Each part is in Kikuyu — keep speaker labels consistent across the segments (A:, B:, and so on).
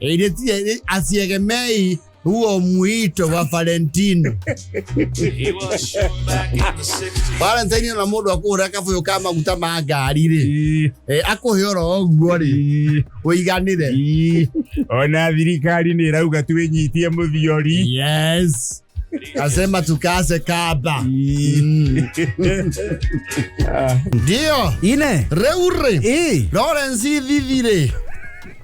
A: Ĩrĩtie-
B: asiegemei huo mwito wa valentino valentine ona mũndũ akũhũra kabũyũ ka maguta ma ngari rĩ Eh, akũhe oro ũguo rĩ ũiganĩre Ii, ona
A: thirikari nä ĩrauga twä nyitie må thiori yes
B: asema tukase kaba Mm. ndio ine
A: rĩu rĩ ĩ
B: lawrence thithi rĩ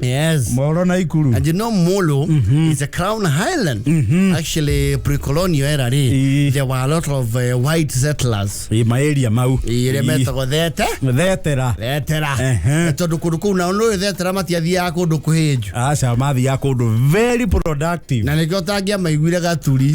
B: Yes. moro na ikuru
A: And you know Molo
B: is a crown highland. Actually, pre-colonial era rĩ, Ii. there were a lot of uh, white settlers. Ĩ, maeria mau
A: Ire Ii. metagwo thete.
B: thetera
A: Thetera. Ehe.
B: Tondũ kũndũ kũu nao nũĩ thetera matiathiaga kũndũ kũhĩnju. aca mathiaga
A: kũndũ very productive Na nĩkĩo ũtangĩamaiguire
B: gaturi.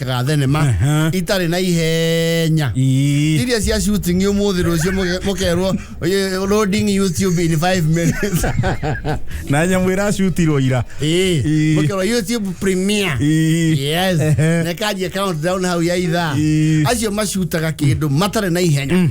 B: ga thenema Aha. itarĩ na ihenya Ii. iria cia shooting umuthi rucio mukerwo "Oye, loading youtube in 5 minutes na
A: nyamå ä racutirwo ira Eh, Ii. mukerwo
B: youtube premiere Ii. yes Ehe. nekanjia countdown hau ya ithaa Ii. acio macutaga kindu matarĩ na ihenya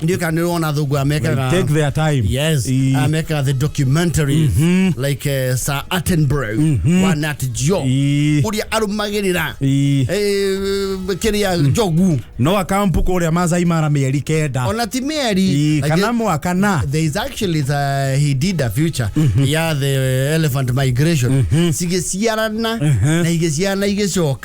B: ndio kana niliona thungu amekaga Like, take their time. yes
A: Eh, amekaga
B: the documentaries like uh, Sir Attenborough wa Nat Geo Eh. uria arumagirira eh, eh, kiria njogu no akampu
A: kũrĩa Masai Mara mĩeri kenda ona ti meri Eh, like,
B: kana mwaka na
A: there is actually the,
B: he did a future ya the elephant migration cigĩciarana na igĩciarana igĩcoka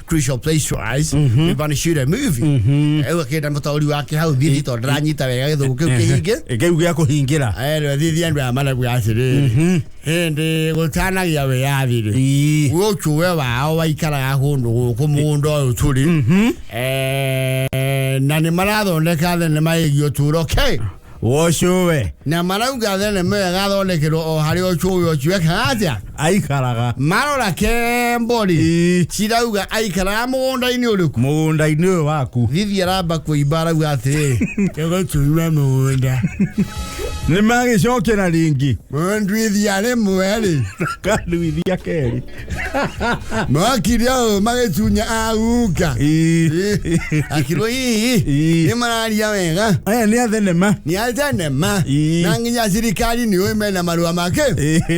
B: crucial place to us mm -hmm. we want to shoot a movie mm -hmm. au akenda mutori wake hau thithi to ndiranyita wega githugu kiu kihinge ngeu gä a kå hingä
A: ra ero thithi andu aya
B: marabu atiriri hindi gutanagia wiyathi ri guo ucuwe wao waikaraga kundu guku mugunda uyu turi na ni marathondeka thenema igi uturo ke wa ũcio
A: we na marauga
B: thenema ĩyo ĩgathondekerwo o harĩ ũcũĩ ũcio ekaga atĩa aikaraga
A: marora
B: kembori Ii. cirauga aikaraga mũgũnda-inĩ ũrĩkũ mũgũnda-inĩ ũyũ waku thithi aramba kũimba arauga
A: atĩrĩ
B: tũgũtunywa mũgũnda nĩ
A: magĩcokera ringi mũndwithia
B: rĩmwe rĩ kanduithia
A: kerĩ
B: mwakiria magĩcunya aguka akirwo hihi Ii. nĩ mararia wega aya nä a thenema
A: nĩ atenema
B: Ii. na nginya thirikari nĩ ũĩ mena marũa make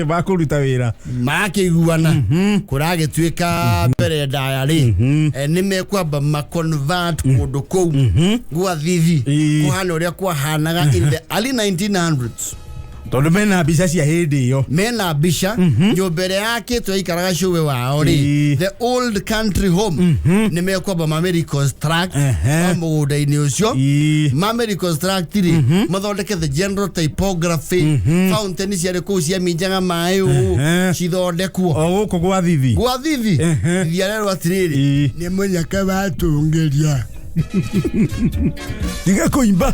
B: makå ruta wä
A: ra marakĩiguana
B: kũragĩtuĩka mbere ndaya rĩ eh, nĩ mekwamba maconvert kũndũ kũu gwa thithi Ii. kũhana ũrĩa kwahanaga in the early 1900s tondå
A: mena mbica cia hä ndä ä yo mena mbica
B: nyũmba ĩrĩa yakĩtwo yaikaraga cũwe wao rĩ Ĩĩ. the old country home nĩ mekwamba mamereconstruct Ehe. wa mũgũnda-inĩ ũcio Ĩĩ. mamereconstruct rĩ mathondeke the general typography fountain ciarĩ kũu ciaminjaga maĩ ũũ Ehe. cithondekwo o gå kå gwa
A: thithi gwa thithi Ehe.
B: thithi arerwo atĩrĩrĩ Ĩĩ. nĩ mũnyaka watũngĩria
A: tiga kå imba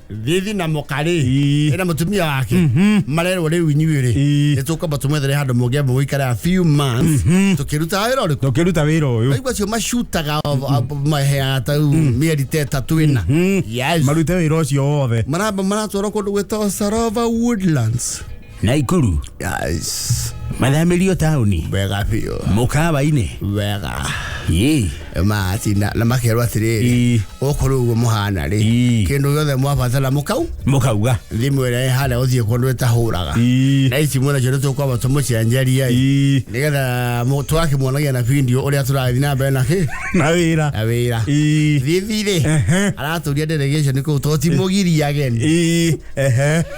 A: thithi na mũkarĩ
B: Ii. ĩna mũtumia wake marerwo rĩu inyuĩ rĩ Ii. nĩ tũkwamba tũmwethere handũ mũngĩamba gũikara a few months tũkĩrutaga wĩra ũrĩkũ tũkĩruta wĩra ũyũ waigua acio macutaga maheaga ta rĩu mĩeri ta ĩtatũ ĩna Yes. marute wĩra ũcio
A: wothe maramba maratwarwo kũndũ
B: gwĩtagwo sarova woodlands naikuru
A: Yes.
B: mathamĩrio
A: taũni Wega biũ.
B: mũkawa-inĩ
A: Wega.
B: Ĩ. Matina na makerwo atĩrĩrĩ. Ii. Gũkũ rĩu ũguo mũhana rĩ. Ii. Kĩndũ gĩothe mwabatara mũkau. mũkauga Thimũ ĩrĩa ĩhana gũthiĩ kũndũ ĩtahũraga. Ii. Na ici mwena kĩndũ tũkwamba tũmũcenjeria. ĩ. Ii. Nĩgetha mũ- tũgakĩmuonagia na video ũrĩa tũrathiĩ na mbere na kĩ. na wĩra Na wĩra. Ii. Thithi rĩ. Ehe. Aratũria delegation kũu to timũgiria ageni. Ii. Ehe.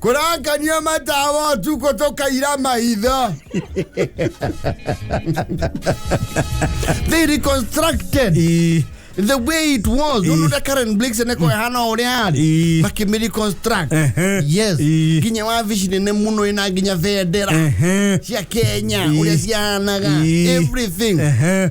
B: Kũrakania matawa ũtukũ tũkaira maitho. They reconstructed the way it was. Ũndũ ta Karen Blix nĩ kwa hana ũrĩa arĩ. Ii. Makĩmĩ reconstruct. Ehe. Yes. Ii. Nginya wabici nene mũno ina nginya bendera Ehe. cia Kenya Ii. ũrĩa cihanaga Ii. everything. Ehe.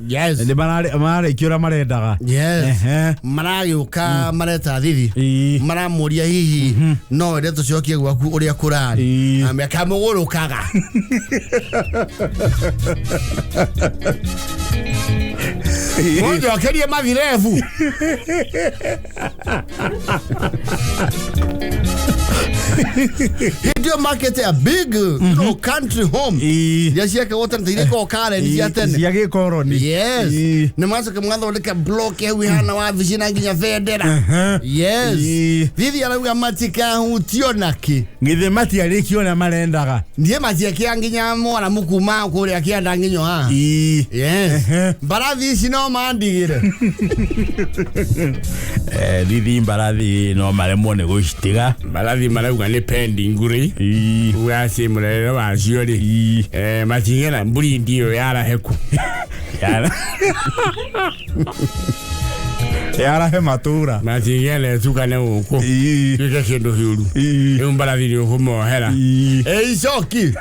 B: Yes. nĩ mararĩ- mararĩkia
A: ũrĩa marendaga Yes. Ehe.
B: maragĩũka mareta thithi Ii. maramũria hihi no ende tũcokie gwaku ũrĩa kũrarĩ Ii. Na mekamũgũrũkaga mũnjokerie mathirebu Hĩndĩ market ya big you know, country home Ii. iria ciake wote nĩ irĩko karen cia tene cia gĩkoroni
C: yes Ii. nĩ
B: macoke mwathondeka block hau ihana wabici na nginya bendera Aha. yes Ii. thithi arauga matikahutio nakĩ githĩ matiarĩkia
C: ũrĩa marendaga ndiĩ matiekĩa
B: nginya mwana mũkuma kũrĩa kĩanda nginyo ha Ii. yes mbarathi ici no mandigire
C: Eh, thithi mbarathi no maremwo nĩ gũcitiga mbarathi marauga nĩ
A: pendi nguri Ii. uga ci mũrerere wacio rĩ Ii. Eh, matigera mburindi ĩyo yaraheku Yara.
C: yarahe matura na cigele cukane
A: guku Ii. tuike kindu hiuru Ii. riu mbarathi ni ukumohera Ii.
B: eicoki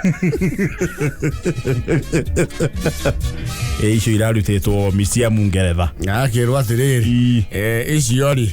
C: icio irarutitwo misiamu ngeretha akirwo atiriri
B: icio ri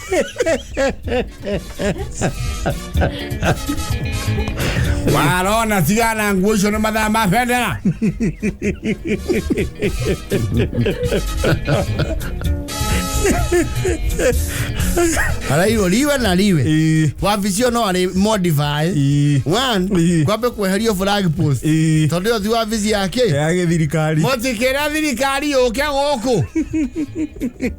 B: warona tigana nguo icio nä mathaa ma bendera arairwo riwe na riwe Ĩĩ. wabici ĩyo no arĩ modify Ĩĩ. one Ĩĩ. kwambe kweherio flag post Ĩĩ. tondũ ĩyo ti wabici yake ya gä thirikari må
C: tikä ra thirikari
B: yå ke gå kå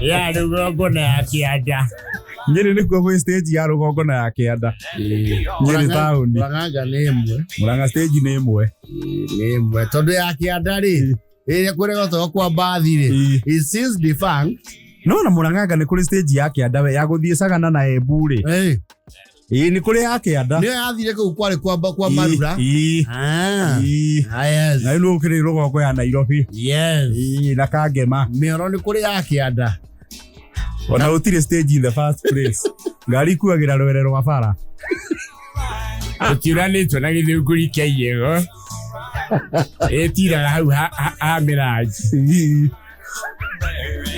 B: ya rugongo na ya kĩanda nyĩrĩ nĩkuo
C: gwĩ stage ya rũgongo na ya kĩanda nyĩrĩ taũni Murang'a nĩ ĩmwe
B: mũranga stage nĩ ĩmwe
C: nĩ ĩmwe
B: tondũ ya kĩanda rĩ ĩrĩa kũrĩa gotoo kwa mbathi rĩ Ĩĩ. is since defunct no na mũranganga
C: nĩ kũrĩ stage ya kĩanda we ya gũthiĩ cagana na embu rĩ Hey, Ii, ni kuri akianda niyo yathire kuu kwari
B: kwamba kwa marura Ii, Ah.
C: ii. Ah, yes. na inu ukiri rugoko ya nairobi Yes. Ii,
B: na kangema
C: mĩoro nĩ kũrĩ ya
B: kĩanda
C: ona utire stage in the first place ngari kuagira rwere rwa bara ũtiũranĩtwo
A: na gĩthũngũri kĩa igego ĩtiraga hau ha- ha- ha mĩrangi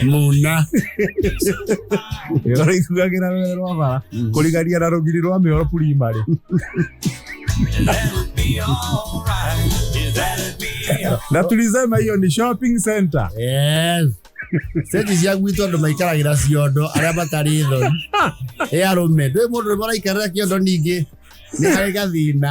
A: muna
C: ũraiguagĩra rũrĩrĩ rwa bara kũrigania na rũgiri rwa mĩoro purimari na
B: tulisema hiyo
C: ni shopping center Yes.
B: Seti cia gwitũ andũ maikaragĩra ciondo arĩa matarĩ thoni ĩ arũme ndwĩ mũndũ ũrĩa maraikarĩra kĩondo ningĩ nĩ harĩ gathĩna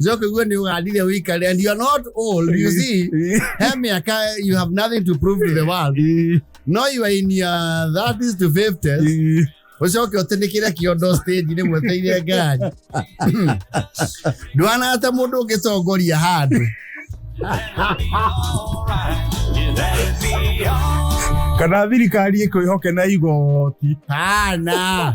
B: Joke, you and you are really weak and and you're not old. You see, Hey, me, I can't- you have nothing to prove to the world. No, you are in your 30s to 50s. ucoke ũtĩnĩkĩre kĩondo stage nĩ mweteire ngari ndwana ta mũndũ ũngĩcongoria handũ
C: kana thirikari ĩkwĩhoke na igoti hana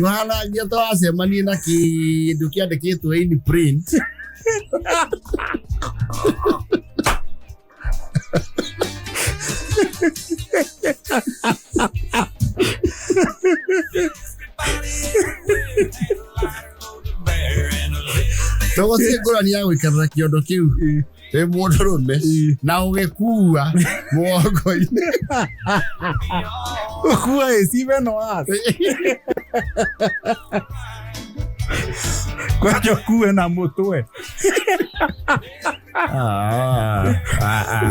B: Mwanangia to acemanie na kindu kiandikitwe in print tũgũtiĩ ngũrani ya gwĩkĩrĩra kĩondo kĩu wĩ mũndũrũme Ii. na ũgĩkua mũgongo-inĩ
C: kuwa ĩcibe no ase kwaja kuwe na mũtwe Ah, ah, ah.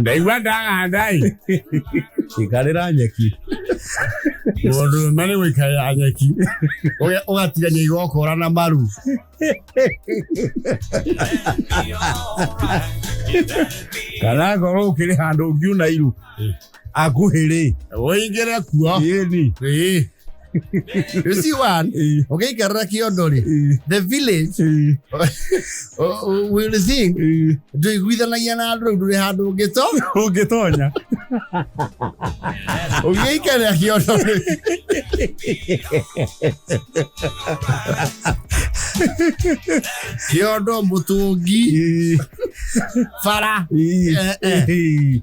A: ndaigua ndahanda ĩ
C: ikarĩra nyeki
B: mũndũ ũme nĩ gũikarĩra nyeki Ũge- ũgatigania igokora na maru
C: kana ngorwo ũkĩrĩ handũ ũngiuna iru akuhĩrĩ ũingĩre
B: kuo yĩni you see one ũngĩikarĩra kĩondo rĩ the village uh, uh, will sing ndũiguithanagia na andũ rĩu ndũrĩ handũ ũngĩto ũngĩtonya ũngĩikarĩra kĩondo rĩ kĩondo mũtũngi bara eh, eh.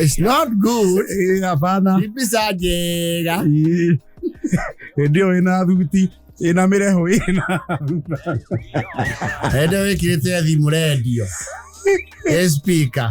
B: It's not good. Eh, hapana. Ipi
C: saa njega.
B: Ii.
C: Hĩndĩ ĩyo ĩna thuti ĩna mĩreho ĩna
B: Hĩndĩ ĩyo wĩkĩrĩte thimũ rendio. Ĩ speaker.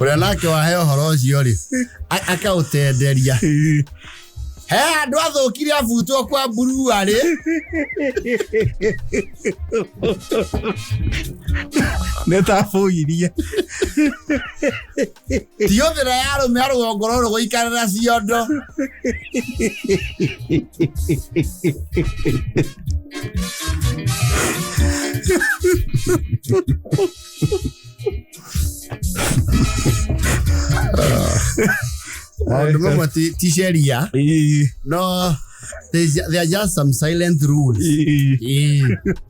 B: ũrĩa nake wahe ũhoro ũcio rĩ a- akaũtenderia he andũ athũkire abutwo kwa mburua rĩ
C: nä tabå irie
B: tiũthĩra ya arũme a rũgongo rũrũ gũikarĩra ciondo maũndũ mamwe ti- ti sheria no there's- there are just some silent rules Ĩĩ.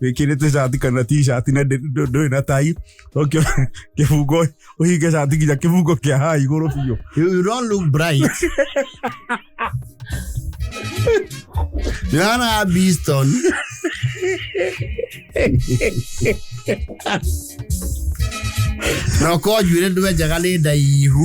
C: wikirite cati kana t-shirt na ndi- ndu- nduri na tai tokio kibungo uhinge cati nginya kibungo kia ha iguru biu You, you don't look
B: bright. Nana Beeston. na ukorwo njuĩrĩ ndwenjaga nĩ ndaihu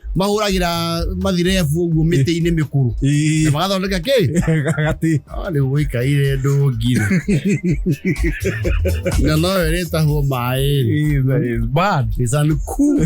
B: mahũragĩra mathirebu ũguo mĩtĩ-inĩ mĩkũrũ Ĩĩ. na magathondeka kĩ Gati. Ah,
C: rĩu gũikaire
B: ndũngi na no ĩrĩtahwo maĩ Ĩĩ, that is bad.
C: It's
B: uncool.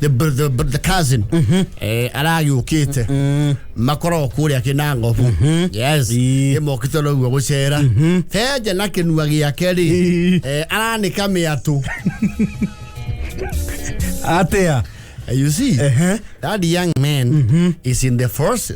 B: the, br- the, br- the cousin eh, aragĩũkĩte makoragwo kũrĩa kĩnangobu yes Ii. ĩmokĩte noguo gũcera benja na kĩnua gĩake rĩ Ii. eh, aranĩka mĩatũ
C: atia you see
B: Ehe. that young man is in the first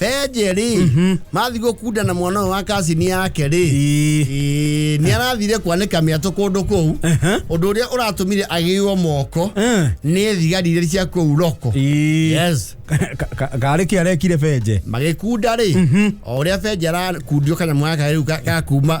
B: benje rĩ mathiĩ gũkunda na mwana ũyũ wa kacini yake rĩ Ĩĩ. Ĩĩ, nĩ arathire kwanĩka mĩatũ kũndũ kũu Aha. ũndũ ũrĩa ũratũmire agĩirwo moko Eh. nĩ thigari iria cia kũu roko Ĩĩ. yes Ka- ka- karĩ
C: kä arekire benje magĩkunda rĩ
B: o ũrĩa benje arakundio kanyamũ gaka rĩu ga- gakuma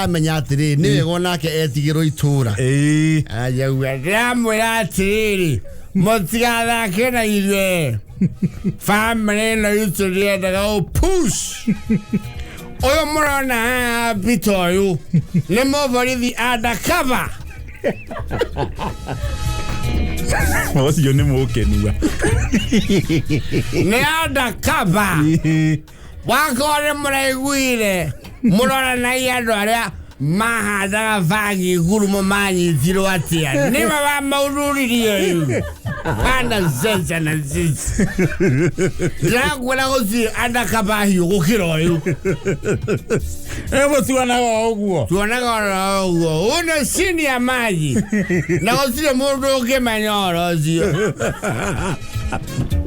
B: amenya atiriri ni wega onake etigirwo itura Ĩĩ. ayauga ndiramwira atiriri mutigathake na ithuĩ family ino itũ ndiendaga å push ũyũ mũrona haha mbita ũyũ nĩ mũborithi undercover
C: ũcio nĩ mũkenua
B: nĩ undercover Ĩĩ. wakore mũraiguire mũroranai andũ arĩa mahandaga bangi ngurumo manyitirwo atĩa nĩwe wa maururirie rĩu kana zenja na zenja ndĩrakwĩra gũtirĩ andakaba hiũ gũkĩra ũyũ Hebu
C: tuonaga o ũguo. tuonaga oro ũguo
B: ũno cini ya maji na gũtirĩ mũndũ ũngĩmenya oro ũcio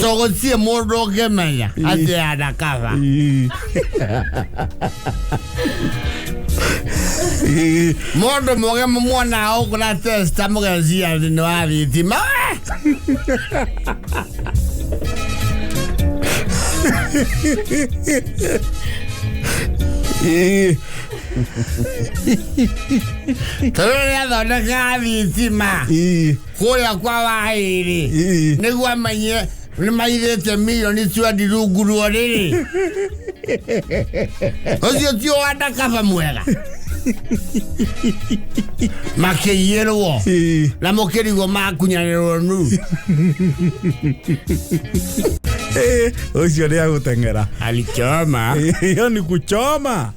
A: togotsie mũndũ ũngĩmenya atĩ anakaba mũndũ mũgĩ mũmuonaga ũkũra testa mũgecia thĩ nĩ wa thitima tondũ nĩ athondekaga thitima kũrĩa kwa waĩrĩ Ii. nĩguo amenye nĩ mairĩte milioni twendi rungu ruo rĩrĩ ũcio tio wandakaba mwega makĩiyĩrwo Ii. na mũkĩrigwo makunyanĩrwo nu
C: Eh, ucio ni aguteng'era alichoma
A: hiyo ni
C: kuchoma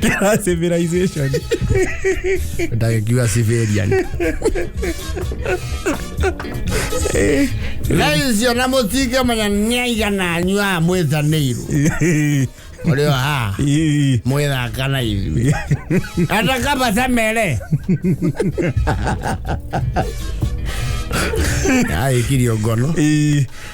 C: Kira civilization.
B: ndakiuga civilian naicio na mutige manya niaigana anyu a mwithanirwo murio ha Ii. mwithaka na ithui ata kaba samere aikirio ngono Ii.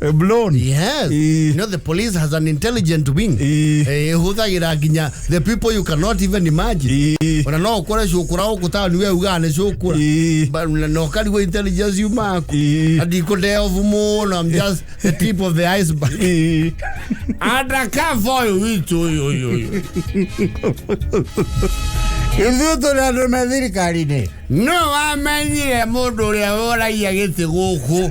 B: Eh, blown Yes. Eh. You know, the police has an intelligent wing. Eh. Eh, huthagira nginya the people you cannot even imagine. Eh. Ona no ukore cukura guku taoni we ugaga ni cukura. Eh. But na no karigwo intelligence you maku. Eh. And you could delve muno. I'm just the tip of the iceberg. Eh. Undercover uyu witu uyu uyu uyu.
A: ithuĩ tũrĩ andũ me thirikari-inĩ No wamenyire mũndũ ũrĩa woragia gĩtĩ gũkũ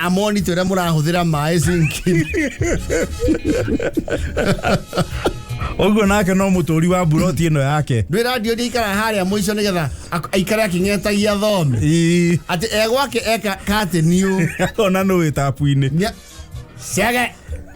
B: amonito ĩrĩa mũrahũthĩra maĩ sinki
C: Ũguo nake no mũtũri wa mburoti ĩno yake. ndwä ra ndio ikara harä
B: a må ico nä getha ak- aikare akä ng'etagia thome Ii, atä e gwake eka kateniå Ona nũĩ
C: tapu-inĩ. ciage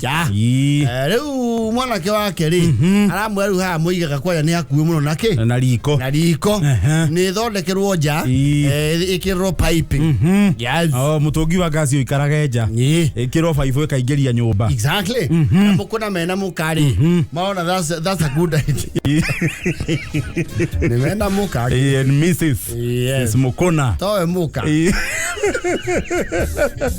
B: ja Ii. Eh, rĩu mwanake wake rĩ aramwĩra rĩu haha mũigaga kwaria nĩ hakuhĩ mũno na kĩ na riko na riko Ehe. nä thondekerwo nja Ii. ä kä rwo Oh,
C: mũtũngi wa ngasi ũikarage nja Ii. ĩkĩrwo baibũ ĩkaingĩria nyũmba na
B: må kå na mena må karä marona that's- that's a good idea. nä mena må ka Eh, and Mrs. Yes.
C: Mrs. Mukuna. towe må ka Eh.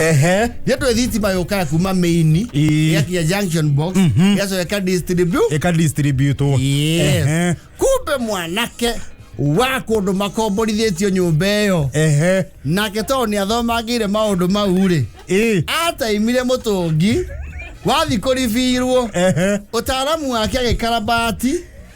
B: ehe yetwe thitima yũkaga kuma maini Ii. yakinya junction box yacoka ĩkadistribute ikadistributwo Yes. Ehe. kumbe mwanake wa kũndũ makomborithĩtio nyũmba ĩyo ehe nake tondũ nĩ athomagĩire maũndũ mau rĩ ĩ ataimire mũtũngi wathi kũribirwo ehe ũtaaramu wake agĩkarabati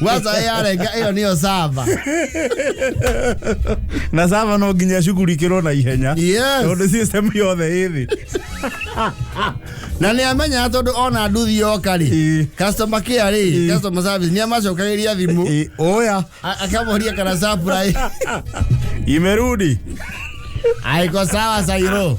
C: Waza
B: yarenga iyo niyo sava.
C: na sava no nginya cugurikirwo na ihenya Yes. tondu system
B: yothe
C: ithi
B: Na ni amenya tondu ona nduthi yoka ri. Ĩĩ. Customer care ri, Ĩĩ. customer service ni amacokagiria thimu. I- oya A-
C: Akamoria kana
B: surprise.
C: imerudi
B: aiko sawa sairo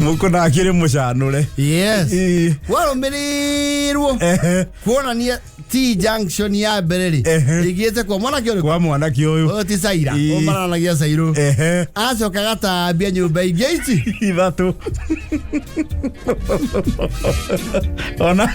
C: mukuna akiri mucanure yes Ii.
B: warumirirwo Ehe. kuonania t junction ya mbere rĩ Ehe. ĩgiĩte kwa mwanake ũrĩkũ kwa mwanake uyu ũyũ ti
C: caira Ii.
B: ũmaranagia cairũ ehe acoka gatambia nyũmba ingĩ ici ithatu
C: ona